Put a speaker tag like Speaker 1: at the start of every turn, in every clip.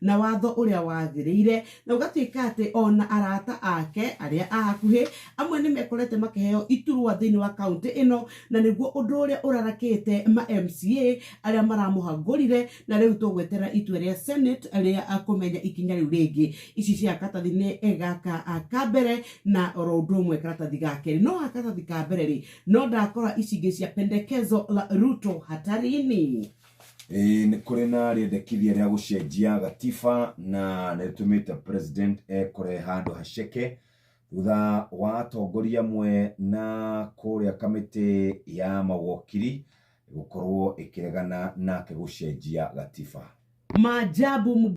Speaker 1: na watho ũrĩa wagĩrĩire, na ũgatuĩka atĩ ona arata ake arĩa a hakuhĩ, amwe nĩ mekorete makĩheo iturwa thĩinĩ wa kaũntĩ ĩno, na nĩguo ũndũ ũrĩa ũrarakĩte ma MCA arĩa maramũhagũrire, na rĩu tũgweterera itua rĩa Senate rĩa kũmenya ikinya rĩu rĩngĩ. Ici cia karatathi-inĩ gaka ka mbere, na oro ũndũ ũmwe karatathi ga kerĩ. No gaka karatathi ka mbere rĩ, no ndakora ici ingĩ cia pendekezo la Ruto hatarini. Ĩĩ nĩ
Speaker 2: kũrĩ na rĩendekithia rĩa gũcenjia gatiba na nĩ rĩtũmĩte president ekore handũ haceke thutha wa atongoria amwe na kũrĩa kamĩtĩ ya mawakiri gũkorwo ĩkĩregana nake gũcenjia gatiba. Maajabu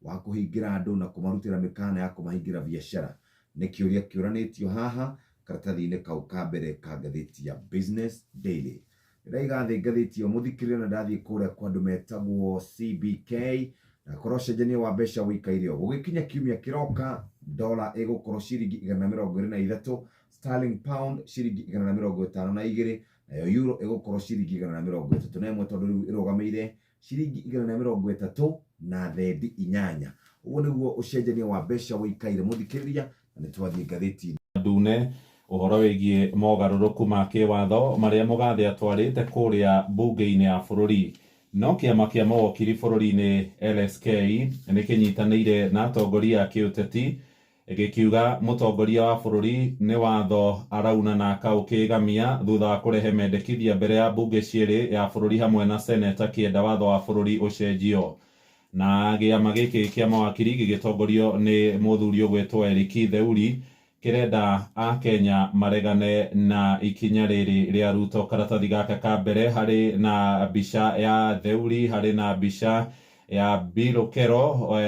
Speaker 2: wa kũhingĩra andũ na kũmarutĩra mĩkaana ya kũmahingĩra biacara? Nĩ kĩũria kĩũranĩtio haha karatathi-inĩ kau ka mbere ka ngathĩti ya Business Daily. Nĩ ndaiga thĩ ngathĩti ĩyo mũthikĩrĩre na ndathiĩ kũrĩa kwa andũ metagwo CBK, ndakorwo ũcenjania wa mbeca wĩikaire ũũ, gũgĩkinya kiumia kĩroka dollar ĩgũkorwo ciringi igana na mĩrongo ĩrĩ na ithatũ, sterling pound ciringi igana na mĩrongo ĩtano na igĩrĩ, nayo euro ĩgũkorwo ciringi igana na mĩrongo ĩtatũ na ĩmwe tondũ rĩu ĩrũgamĩire ciringi igana rĩa mĩrongo ĩtatũ na thendi inyanya ũguo nĩguo ũcenjania wa mbeca wĩikaire mũthikĩrĩria na nĩ twathiĩ ngathĩti ndune
Speaker 3: ũhoro wĩgiĩ mogarũrũku ma kĩwatho marĩa Mũgathĩ atwarĩte kũrĩa mbunge-inĩ ya bũrũri. No kĩama kĩa mawokiri bũrũri-inĩ LSK nĩ kĩnyitanĩire na atongoria a kĩũteti Gĩkiuga mũtongoria wa bũrũri nĩ watho arauna na akaũkĩĩgamia thutha wa kũrehe mendekithia mbere ya mbunge cierĩ ya bũrũri hamwe na Senate akĩenda watho wa bũrũri ũcenjio. Na gĩama gĩkĩ kĩa mawakiri gĩgĩtongorio nĩ mũthuri ũgwĩtwo Eric Theuri kĩrenda Akenya maregane na ikinya rĩrĩ rĩa Ruto. Karatathi gaka ka mbere harĩ na mbica ya Theuri, harĩ na mbica ya Bill Okello, we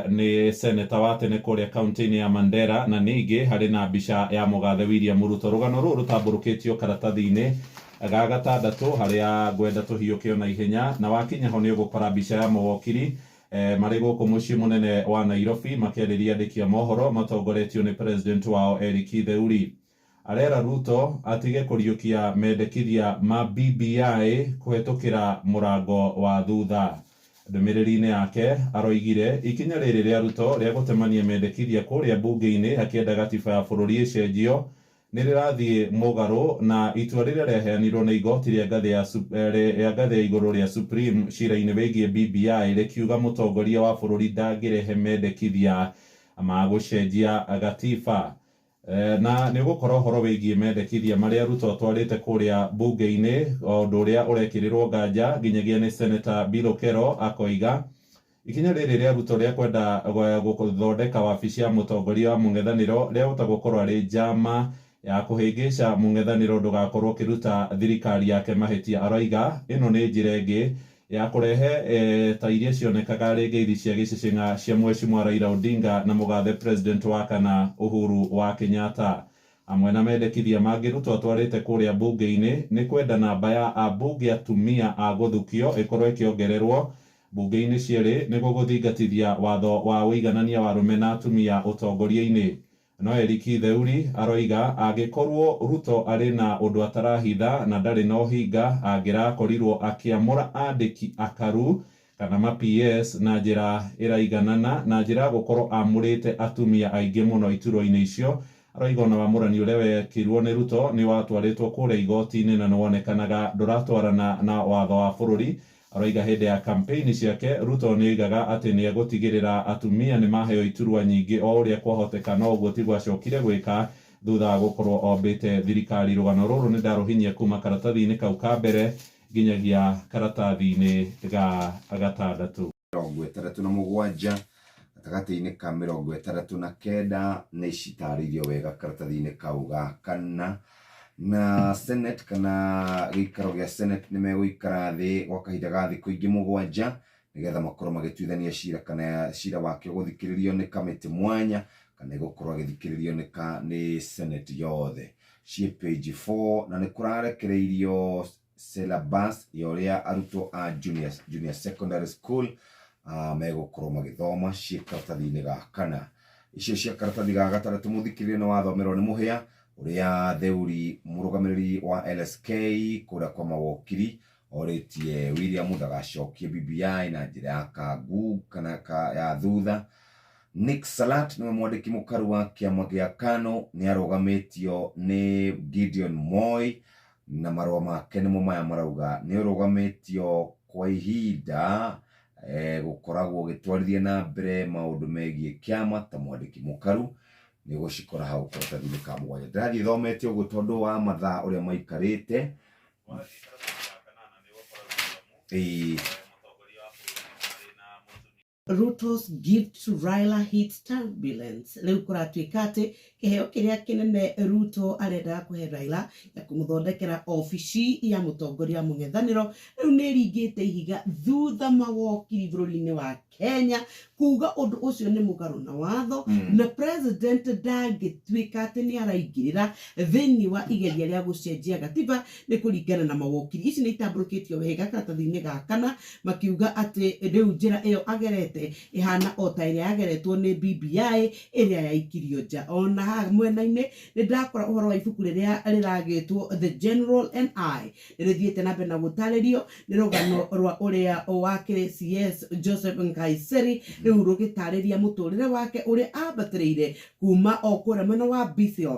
Speaker 3: nĩ seneta wa tene kũrĩa kauntĩ-inĩ ya Mandera, na ningĩ harĩ na mbica ya mũgathe William Ruto. Rũgano rũrũ rũtambũrũkĩtio karatathi-inĩ ga gatandatũ harĩa ngwenda tũhiũke o na ihenya, na wakinya ho nĩ ũgũkora mbica ya mawokiri marĩ gũkũ mũciĩ mũnene wa Nairobi makĩarĩria andĩki a mohoro matongoretio nĩ president wao Eric Theuri. Arera Ruto atige kũriũkia mendekithia ma BBI kũhetũkĩra mũrango wa thutha. Ndũmĩrĩri-inĩ yake aroigire ikinya rĩrĩ rĩa Ruto rĩa gũtemania mendekithia kũrĩa mbunge-inĩ akĩenda gatiba ya bũrũri ĩcenjio nĩ rĩrathiĩ mũgarũ na itua rĩrĩa rĩaheanirwo nĩ igoti rĩa ngathĩ ya rĩa ngathĩ ya igũrũ rĩa Supreme cira-inĩ wĩgiĩ BBI rĩkiuga mũtongoria wa bũrũri ndangĩrehe mendekithia ma gũcenjia gatiba. Na nĩ ũgũkora ũhoro wĩgiĩ mendekithia marĩa Ruto atwarĩte kũrĩa mbunge-inĩ, o ũndũ ũrĩa ũrekĩrĩrwo nganja nginyagia nĩ Seneta Bill Okello, akoiga, Ikinya rĩrĩ rĩa Ruto rĩa kwenda gũthondeka wabici ya mũtongoria wa mũng'ethanĩro rĩahota gũkorwo arĩ njama ya kũhĩngĩca mũng'ethanĩro ndũgakorwo ũkĩruta thirikari yake mahĩtia. Aroiga, Ĩno nĩ njĩra ĩngĩ ya kũrehe ta iria cionekaga rĩngĩithi cia gĩcĩcĩng'a cia Mweshimwa Raila Odinga na mũgathe President wa kana Uhuru wa Kenyatta. Amwe na mendekithia mangĩ Ruto atwarĩte kũrĩa mbunge-inĩ nĩ kwenda namba ya ambunge atumia a gũthukio ĩkorwo ĩkĩongererwo mbunge-inĩ cierĩ nĩguo gũthingatithia watho wa ũiganania wa arũme na atumia ũtongoria-inĩ. No Eric Theuri aroiga angĩkorwo Ruto arĩ na ũndũ atarahitha na ndarĩ na ũhinga angĩrakorirwo akĩamũra andĩki akaru kana ma PS na njĩra ĩraiganana na njĩra ya gũkorwo amũrĩte atumia aingĩ mũno iturwa-inĩ icio. Aroiga ona wamũrani ũrĩa wekirwo nĩ Ruto nĩwatwarĩtwo kũrĩa igoti-inĩ na nĩwonekanaga ndũratwarana na watho wa bũrũri Aroiga hĩndĩ ya kampeini ciake, Ruto nĩ oigaga atĩ nĩ egũtigĩrĩra atumia nĩ maheo iturwa nyingĩ o ũrĩa kwahoteka no ũguo tiguo acokire gwĩka thutha wa gũkorwo ombĩte thirikari. Rũgano rũrũ nĩ ndarũhinyia kuuma karatathi-inĩ kau ka mbere nginyagia karatathi-inĩ ga gatandatũ. mĩrongo ĩtandatũ na
Speaker 2: mũgwanja gatagatĩ-inĩ ka mĩrongo ĩtandatũ na kenda nĩ citarĩirio wega karatathi-inĩ kau ga kana na senate kana gĩikaro gĩa senate nĩ megũikara thĩ gwa kahinda ga thikũ ingĩ mũgwanja nĩgetha makorwo magĩtuithania cira kana cira wake gũthikĩrĩrio nĩ kamĩtĩ mwanya kana ĩgũkorwo agĩthikĩrĩrio nĩ ka nĩ senate yothe ciĩ page 4 na nĩ kũrarekereirio syllabus ya ũrĩa arutwo a junior, junior secondary school uh, megũkorwo magĩthoma ciĩ karatathi-inĩ ga kana icio cia karatathi ga gataratu mũthikĩrĩria nĩ wathomerwo nĩ mũhĩa ũrĩa theuri mũrũgamĩrĩri wa lsk kũrĩa kwa mawokiri orĩtie william ndagacokie bbi na njĩra ya kangu kana ka, ya thutha Nick Salat nĩwe mwandĩki mũkaru wa kĩama gĩa Kano nĩ arũgamĩtio nĩ Gideon Moi Na marũa make nĩmo maya marauga nĩ ũrũgamĩtio kwa ihinda gũkoragwo ũgĩtwarithia na mbere maũndũ megiĩ kĩama ta mwandĩki mũkaru nĩ ũgũcikora hau karatathi-inĩ ka mũgwanja. Ndĩrathiĩ thomete ũguo tondũ wa mathaa ũrĩa maikarĩte.
Speaker 1: Ruto's gift to Raila hits turbulence. Rĩu kũratuĩka atĩ kĩheo kĩrĩa kĩnene Ruto arendaga kũhe Raila ya kũmũthondekera obici ya mũtongoria wa mũng'ethanĩro rĩu nĩ ĩringĩte ihiga thutha mawokiri bũrũri-inĩ wa Kenya kuuga ũndũ ũcio nĩ mũgarũ na watho na president ndangĩtuĩka atĩ nĩ araingĩrĩra thĩinĩ wa igeria rĩa gũcenjia gatiba Nĩ kũringana na mawokiri, ici nĩ itambũrũkĩtio wega karatathi-inĩ ga kana, makiuga atĩ rĩu njĩra ĩyo agerete ĩhana o ta ĩrĩa yageretwo nĩ BBI ĩrĩa yaikirio nja. O na haha mwena-inĩ, nĩ ndakora ũhoro wa ibuku rĩrĩa rĩragĩtwo The General and I. Nĩ rĩthiĩte na mbere na gũtarĩrio nĩ rũgano rwa ũrĩa wakĩrĩ CS Joseph Nkaissery, rĩu rũgĩtarĩria mũtũrĩre wake ũrĩa ambatĩrĩire kuma o kũrĩa mwena wa Bethel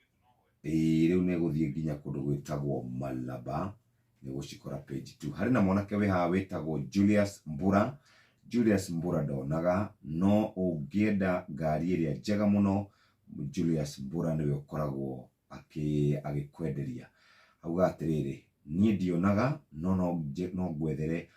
Speaker 2: Ĩĩ rĩu nĩgũthiĩ nginya kũndũ gwĩtagwo Malaba, nĩũgũcikora page two. Harĩ na mwanake wĩ haha wĩtagwo Julius Mbura, Julius Mbura ndonaga, no ũngĩenda ngari ĩrĩa njega mũno, Julius Mbura nĩwe ũkoragwo agĩkwenderia. Augaga atĩrĩrĩ, niĩ ndionaga, no no ngwethere